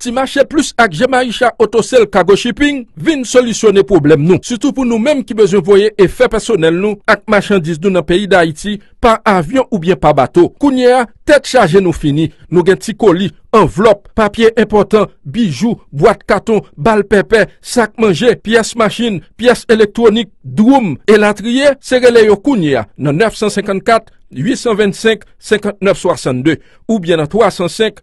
Ti mache plis ak Jemaisha Autosale Cargo Shipping vin solisyone pwoblèm nou, sitou pou nou menm ki bezwen voye efè pèsonèl nou ak machandiz nou nan peyi Dayiti pa avyon oubyen pa bato. Kounye a, tèt chaje nou fini, nou gen ti koli, anvlòp, papye enpòtan, bijou, bwat katon, bal pèpè, sak manje, pyès machin, pyès elektwonik, dwoum, elatriye, se rele yo kounye a nan 954 825 59 62 oubyen nan 305.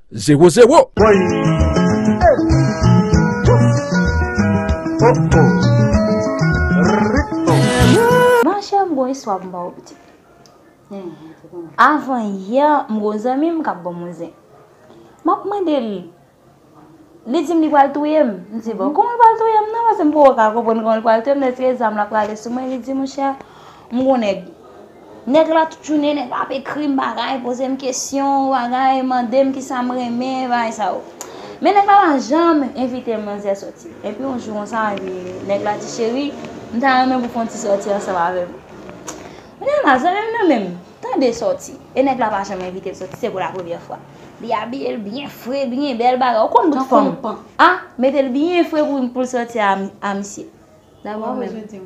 Zero zero. Woy! Hey! Wouff! Oh oh! Machè m gon istwa pou m ba ou pitit. Avan yè m gon zanmi m kap banm on zen. Map mande l, li di m li pral touye m. M di bon kouman l pral touye m nan paske m poko ka konprann kouman l pral touye m deske zam la prale sou mwen li di monchè. M gon nèg. Nèg la tout jounen nèg la ap ekri m bagay, poze m kesyon, bagay, mande m kisa m renmen, bagay sa yo. Men nèg la pa janm envite manzè sòti. Epi yon jou konsa, epi nèg la di cheri, m ta renmen pou fè yon ti sòti ansanm avè m. M di a la, zanmi m nan men m, tande sòti. E nèg la pa janm envite l sòti, se pou la premyè fwa. Li abiye l byen fre, byen bèl bagay. Ou konn bout fanm. A, mete l byen fre pou l sòti a misye. Dabò men m.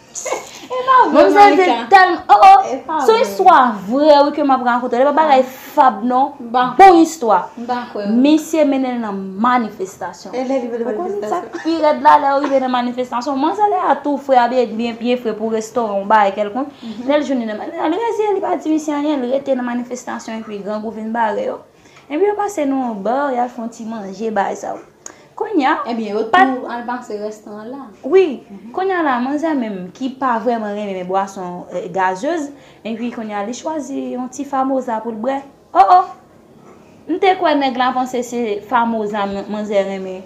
Epa vre Monica Son istwa vre wi ke map rakonte Epa bagay fab non Bon istwa Misye mennen l nan manifestasyon Ou kon n sak pi rèd la lè ou rive nan manifestasyon Manzè lè a tou fre abiye byen byen fre pou restoran ou bagay kelkonk Lè l jwenn li nan manifestasyon Li rezi li pa di misye anyen li rete nan manifestasyon Epi grangou vin bare yo Ebyen yo pase nou yon bar yal fon ti manje bay sa ou Konya Ebyen yo tou al pase restan an la Wi Konya la manzè menm ki pa vreman renmen bwason gazeuz Epi konya li chwazi yon ti famosa poul bwè Oh oh M te kwè nèg la panse se famosa manzè renmen.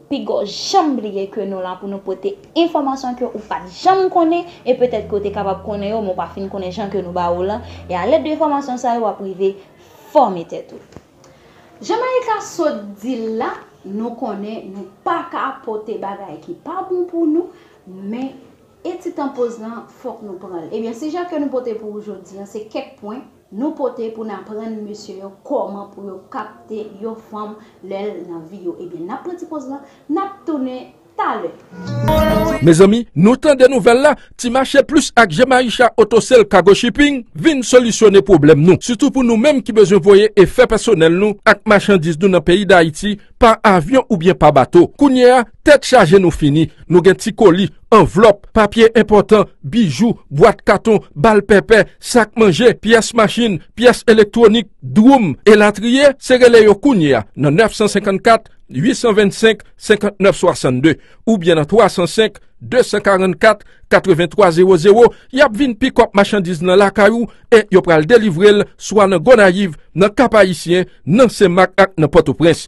Pigaw janm bliye ke nou la pou nou pote enfòmasyon ke ou pat janm konnen e petèt ke ou te kapab konnen yo men ou pa fin konnen jan ke nou ba ou lan e a lèd de enfòmasyon sa yo wap rive fòme tèt ou. Jan Maïka sot dil la nou konnen nou pa ka pote bagay ki pa bon pou nou men e ti tan poz lan fòk nou pranl ebyen si jan ke nou pote pou ou jodi an se kèk pwen Nou pote pou n aprann mesye yo kòman pou yo kapte yon fanm lè l nan vi yo. Ebyen n ap pran ti poz lan, n ap tounen talè. Mezanmi nou tande nouvèl la, ti mache plis ak Jemaisha auto sale cargo shipping vin solisyone pwoblèm nou sitou pou nou menm ki bezwen voye efè pèsonèl nou ak machandiz nou nan peyi dayiti pa avyon oubyen pa bato kounye a tèt chaje nou fini nou gen ti koli Anvlòp, papye enpòtan, bijou, bwat katon, bal pèpè, sak manje, pyès machin, pyès elektwonik, dwoum, elatriye, se rele yo kounye a nan 954 825 59 62 oubyen nan 305 244 83 00 y ap vin pikòp machandiz lan lakay ou e yo pral delivre l swa nan Gonayiv, nan Kap Ayisyen, nan Senmak ak nan Pòtoprens.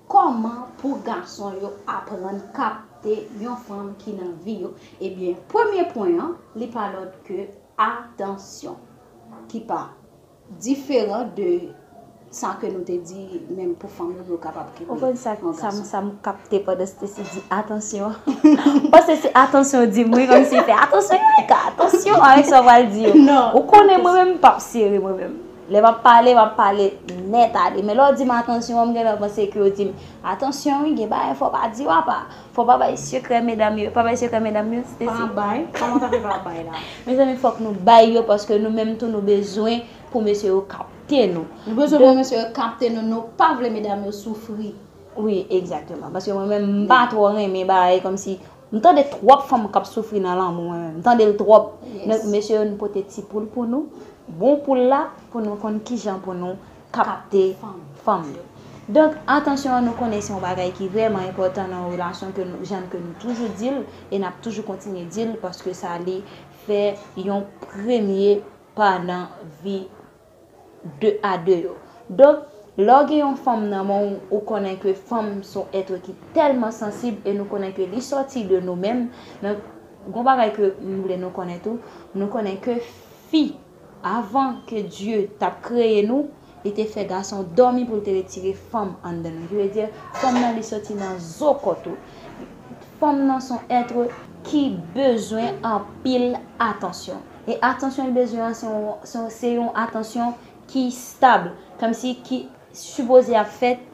Kòman pou gason yo aprann kapte yon fanm ki nan vi yo? Ebyen, premye pwen an, li pa lòt ke atansyon. Ki pa diferan de sa ke nou te di menm pou fanm yo pou yo kapab kenbe yon gason. Ou konn sak, sa m, sa m kapte pandan Stacy di atansyon? M panse se atansyon w di m wi, kòm si se atansyon Yureka, atansyon avèk sa w pral di yo. Non. Ou konnen mwen menm m pap sere mwen menm. Lè map pale, map pale nèt ale. Men lè w di m atansyon an, m gentan panse ke w di m, atansyon wi, gen bagay fò w pa di w apa. Fò w pa bay sekrè medam yo. Pa bay sekrè medam yo, Stessie. Pa bay? Kòman w ta fè pa bay la? Mezanmi fòk nou bay yo paske nou menm tou nou bezwen pou mesye yo kapte nou. Nou bezwen pou mesye yo kapte nou, nou pa vle medam yo soufri. Wi, egzakteman. Paske mwen menm m pa twò renmen bay kòmsi. M tande twòp fanm kap soufri nan lanmou mwen menm m tandel twòp men mesye yo nou pote ti poul pou nou bon poul la pou nou konn kijan pou nou kapte fanm yo donk atansyon an nou konnen se yon bagay ki vrèman enpòtan nan yon relasyon ke nou jan ke nou toujou dil e nap toujou kontinye dil paske sa li fè yon premye pa nan vi 2 a 2 yo. Donk, lè w gen yon fanm nan men w, ou konnen ke fanm s on etre ki tèlman sansib e nou konnen ke li sòti de nou menm, donk, gon bagay ke m vle nou konnen tou, nou konnen ke fi, avan ke Dye t ap kreye nou, li te fè gason dòmi pou l te retire fanm anndan nou. Ki vle di, fanm nan li sòti nan zo kò tou. Fanm nan s on etre ki bezwen anpil atansyon. E atansyon l bezwen an se yon se yon atansyon ki stab, kòmsi ki sipoze ap fèt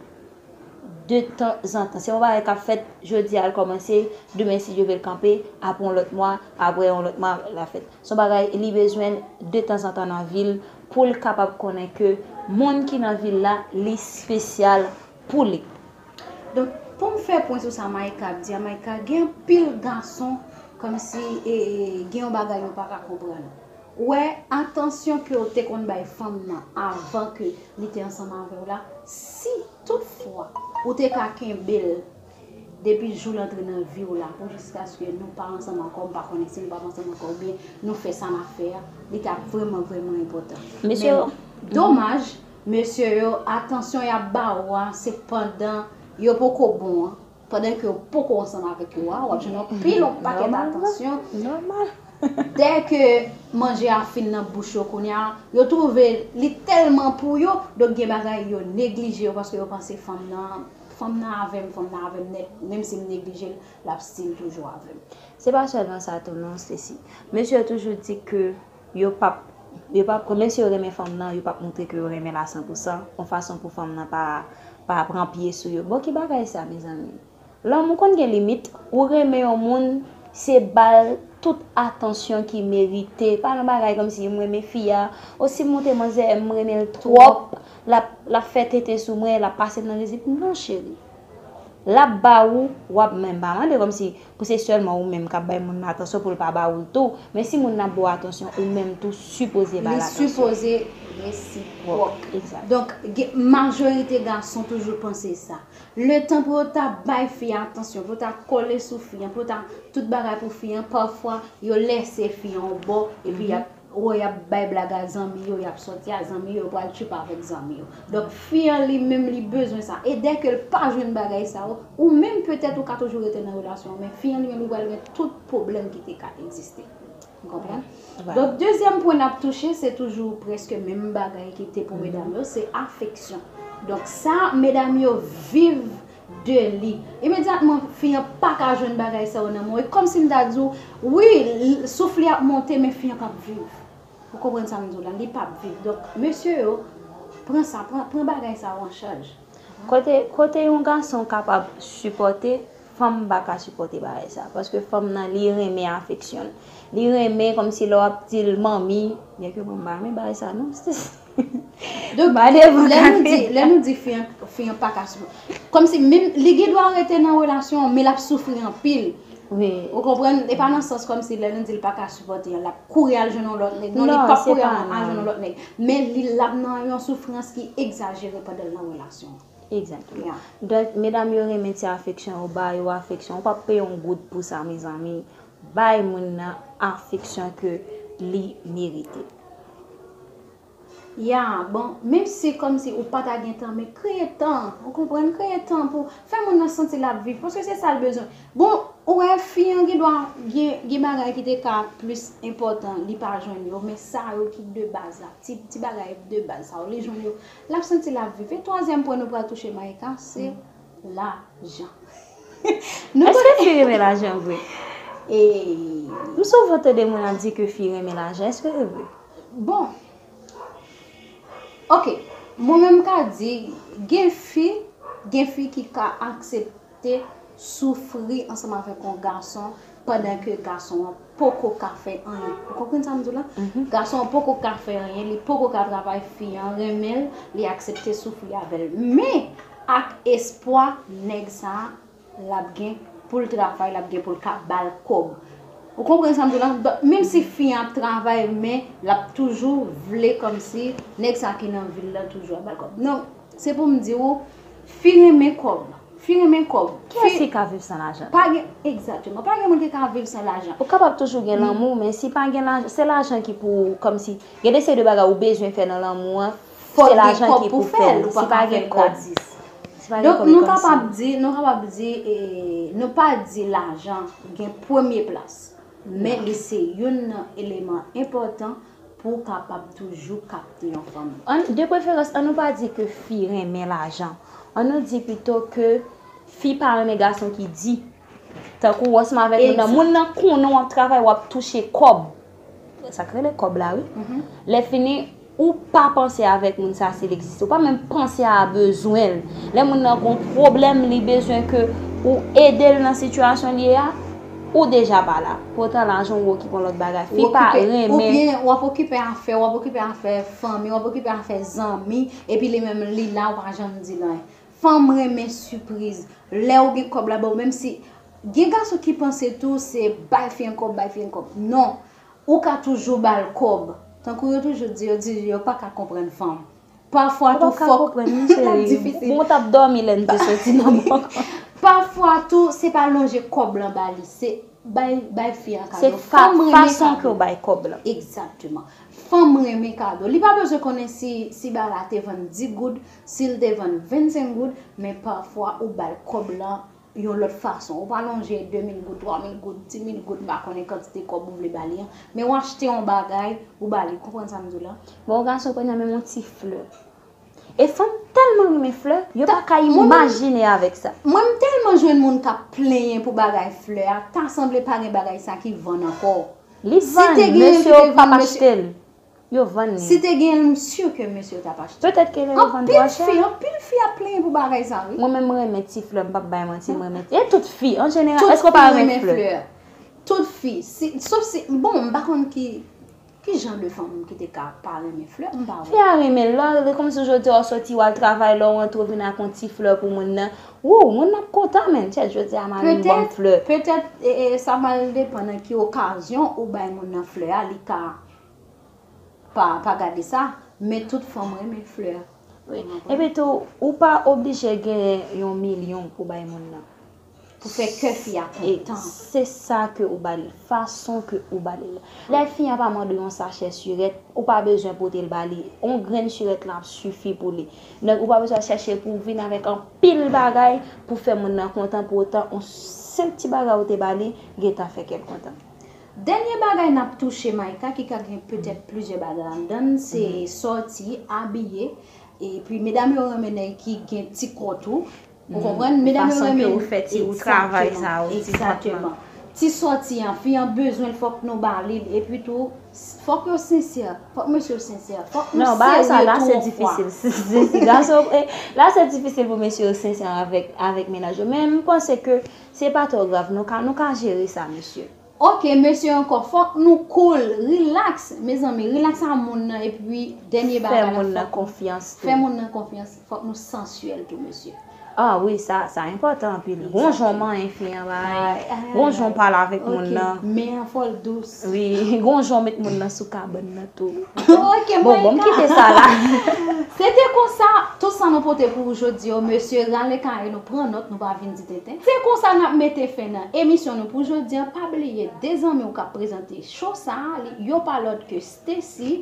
de tanzantan. Se yon bagay k ap fèt jodi a l kòmanse, demen si Dye vle l kanpe, apre yon lòt mwa, apre yon lòt mwa l ap fèt. Se yon bagay li bezwen l de tanzantan nan vi l pou l kapab konnen ke moun ki nan vi l la li spesyal pou li. Donk pou m fè pwen sou sa Micah ap di a, Micah gen anpil gason kòmsi e gen yon bagay yo pa ka konprann. Ou wè atansyon ke w te konn bay fanm nan avan ke li te ansanm avè w la, si tout fwa ou te ka kenbe l depi jou l antre nan vi w la pou jiskaske nou pa ansanm ankò, m pa konnen si nou pap ansanm ankò oubyen nou fè sa n ap fè a, li t ap vrèman vrèman enpòtan. Men domaj Mesye yo atansyon yap ba ou a se pandan yo poko bon an, pandan ke ou poko ansanm avèk yo a wap jwenn yon pil yon pakèt atansyon, dè ke manje a fin nan bouch yo kounye a yo twouve li tèlman pou yo, donk gen bagay yo neglije yo paske yo panse fanm nan, fanm nan avèm, fanm nan avèm nèt, menm si m neglije l lap stil toujou avèm. Se pa sèlman sa tou non Stacy, mesye yo toujou di ke Yo pap yo pap pran menm si yo renmen fanm nan yo pap moutre ke yo renmenl a san pou san yon fason pou fanm nan pa pa pran pye sou yo bon ki bagay sa mezanmi lanmou konn gen limit ou renmen yon moun se bal tout atansyon ki merite pa yon bagay kòmsi m renmen fi a o si m monte manzè m renmenl twòp lap lap fè tenten sou mwen lap pasem nan rizib non cheri lap ba ou wap menm pa mande kòmsi. Pou se sèlman ou menm kap bay moun nan atansyon poul pa ba oul tou, men si moun nan ap ba w atansyon ou menm tou sipoze bal atansyon. Li sipoze resipròk. Exact. Donk gen majorite gason toujou panse sa. Letan pou yo ta bay fi a atansyon, pou yo ta kole sou fi an, pou yo ta tout bagay pou fi an, pafwa yo lèse fi an yon bò epi yap Ohh yap bay blag a zanmi yo yap sòti a zanmi yo yo pral tchuipa avèk zanmi yo donk fi an li menm li bezwen sa e dè ke l pa jwenn bagay sa yo ou menm petèt ou ka toujou rete nan relasyon an men fi an li menm li pral gen tout pwoblèm ki te ka egziste nou konprann donk dezyèm pwen nap touche se toujou prèske menm bagay ki te pou medam yo se afeksyon donk sa medam yo viv de li. Imedyatman, fi an pa ka jwenn bagay sa yo nan men w. E kòmsi m ta di w, wi, souf li ap monte, men fi an p ap viv. Ou konprann sa m di w la? Li p ap viv. Donk, mesye yo, pran sa, pran bagay sa yo an chaj. Kote, kote yon gason kapab sipòte, fanm pa ka sipòte bagay sa. Paske fanm nan, li renmen afeksyon. Li renmen kòmsi lè w ap di l manmi, byenke manmi pa renmen bagay sa non. Donk, lè nou di fi an pa ka soufri. Kòm si menm li gen dwa rete nan relasyon an, men l ap soufri anpil. Ou konprann? E pa nan sans kòm si lè nou di l pa ka sipòte an, l ap kouri al jwenn yon lòt nèg. Non, li p ap kouri al jwenn yon lòt nèg. Men li l ap nan yon soufrans ki egzajere pandan l nan relasyon an. Egzakteman. Donk, medam yo renmen ti afeksyon, yo ba yo afeksyon. Ou p ap peye yon goud pou sa mezanmi. Bay moun nan afeksyon ke li merite. Ya bon, menm si kòm si ou pa ta gen tan men kreye tan, ou konprann, kreye tan pou fè moun nan santi lap viv paske se sal bezwen. Bon, ou wè fi an gendwa gen bagay ki te ka plis enpòtan li pa jwenn yo men sa yo ki de baz la, ti bagay de baz sa yo li jwenn yo lap santi lap viv. E twazyèm pwen nou pral touche Maïka se. La jan. Eske fi renmen la jan vre? Eeii. M souvan tande moun ap di ke fi renmen la jan. Eske se vre? Bon. Ok. Mwen menm m ka di gen fi, gen fi ki ka aksepte soufri ansanm avèk yon gason Pandan ke gason an poko ka fè anyen. Ou konprann sa m di w la? Gason an poko ka fè anyen, li poko ka travay, fi an renmen l, li aksepte soufri avè l. Men, ak espwa nèg sa a, l ap gen pou l travay, l ap gen pou l ka ba l kòb. Ou konprann sa m di w la? Donk, menm si fi an ap travay, men, l ap toujou vle kòmsi nèg sa a ki nan vi l lan toujou ap ba l kòb. Se pou m di ou, fi renmen kòb. Fi renmen kòb. Kiyès ki ka viv san lajan? Pa gen, egzateman, pa gen moun ki ka viv san lajan. Ou kapab toujou gen lanmou, men si pa gen lajan, se lajan ki pou, kòmsi, gen de seri de bagay ou bezwen fè nan lanmou an, se lajan ki pou fè l, si pa gen kòb. Donk nou kapab di, nou kapab di, nou pa di lajan gen premye plas, men li se youn nan eleman enpòtan Pou w kapab toujou kapte yon fanm. De preferans, an nou pa di ke fi renmen lajan. An nou di pito ke fi pa renmen gason ki di. Tankou w ansanm avèk moun nan, moun nan konnen w ap travay, w ap touche kòb. Sa k rele kòb la wi. Lè fini, ou pa panse avèk moun sa si l egziste. Ou pa menm panse a bezwen l. Lè moun nan gen yon pwoblèm, li bezwen ke ou ede l nan sitiyasyon li ye a. Ou deja pa la. Potan lajan ou okipe yon lòt bagay. Fi pa renmen. Ou byen ou ap okipe afè ou, ap okipe afè fanmi ou, ap okipe afè zanmi, epi li menm li la ou pa janm di l anyen. Fanm renmen sipriz. Lè ou gen kòb la ba ou menm si Gen gason ki panse tou se bay fi an kòb, bay fi an kòb. Non. Ou ka toujou ba l kòb. Tankou yo toujou di yo di yo pa ka konprann fanm. Pafwa tou fòk Pafwa tou se pa lonje kòb lan ba li se bay fi an kado Fanm renmen kado Exactement Fanm renmen kado Li pa bezwen konnen si ba la te vann 10 goud si l te vann 25 goud men pafwa ou ba l kòb lan yon lòt fason. Ou pa lonje 2 mil goud, 3 mil goud, 10 mil goud, m pa konnen kantite kòb ou vle ba li an, men ou achte yon bagay, ou ba li. Ou konprann sa m di w la? Bon, yon gason pran nan men m yon ti flè. E fanm tèlman renmen flè, yo pa ka imajine avèk sa. Mwen m tèlman jwenn moun k ap plenyen pou bagay flè a, ta sanble pa gen bagay sa ki vann ankò. Li vann, mesye yo p ap achte l. Yo vann li. Si te genyenl m sur ke mesye yo tap achte. Petèt ke lè yo vann tro chè. Anpil fi, anpil fi ap plenyen pou bagay sa wi. Mwen menm m renmen ti flè m pap bay manti m renmen e tout fi an jeneral èske w pa renmen flè. Tout fi si sof si bon m pa konn ki ki jan de fanm ki te ka pa renmen flè m pa wè. Fi a renmen lè lè kòmsi jodi a w soti wal travay lè w antre w vin ak yon ti flè pou moun nan woo moun nan ap kontan menn chet jodi a marim banm flè. Petèt petèt sa pral depan nan ki okazyon ou bay moun nan flè a li ka. Pa pa gade sa Men tout fanm renmen flè Epi tou ou pa oblije genyen yon milyon pou bay moun nan Pou fè kè fi a kontan Se sa ke ou ba li Fason ke ou ba li Lè fi a pa mande ou yon sachè sirèt Ou pa bezwen pote l ba li Yon grenn sirèt lan ap sifi pou li Donk ou pa bezwen chache pou vin avèk anpil bagay Pou fè moun nan kontan Pou otan yon senp ti bagay ou te ba li Gentan fè kè l kontan Dènye bagay n ap touche Micah ki ka gen petèt plizyè bagay anndan l se sòti, abiye, epi medam yo renmen nèg ki gen ti kò tou, ou konprann, medam yo renmen. Fason ke ou fè ti ou travay sa ou ti kòt lan. Egzateman. Ti sòti an, fi an bezwen l fòk nou ba li l, epi tou fòk yo sensè, fòk mesye yo sensè, fòk nou serye tou ankò. Non, bagay sa la se difisil, si gason, la se difisil pou mesye yo sensè avèk mennaj yo, men m panse ke. Se pa twò grav nou ka nou ka jere sa mesye. Ok mesye ankò fòk nou cool relax mezanmi relax a moun nan epi dènye bagay la fòk nou fè moun nan konfyans fòk nou sansyèl tou mesye. Ah wi sa sa enpòtan anpil gonjon manyen fi an bay gonjon pale avèk moun nan. Ok men an fòl dous. Wi gon jan w met moun nan sou kabann nan tou. Ok mwen ka. Bon m kite sa la. Se te konsa, tout sa nou pote pou ou jodi yo mesye rale kaye nou pran nòt nou pa vin di tenten. Se konsa nap mete fen nan emisyon nou pou jodi an pa bliye 2 zanmi w kap prezante show sa li yo pa lòt ke Stacy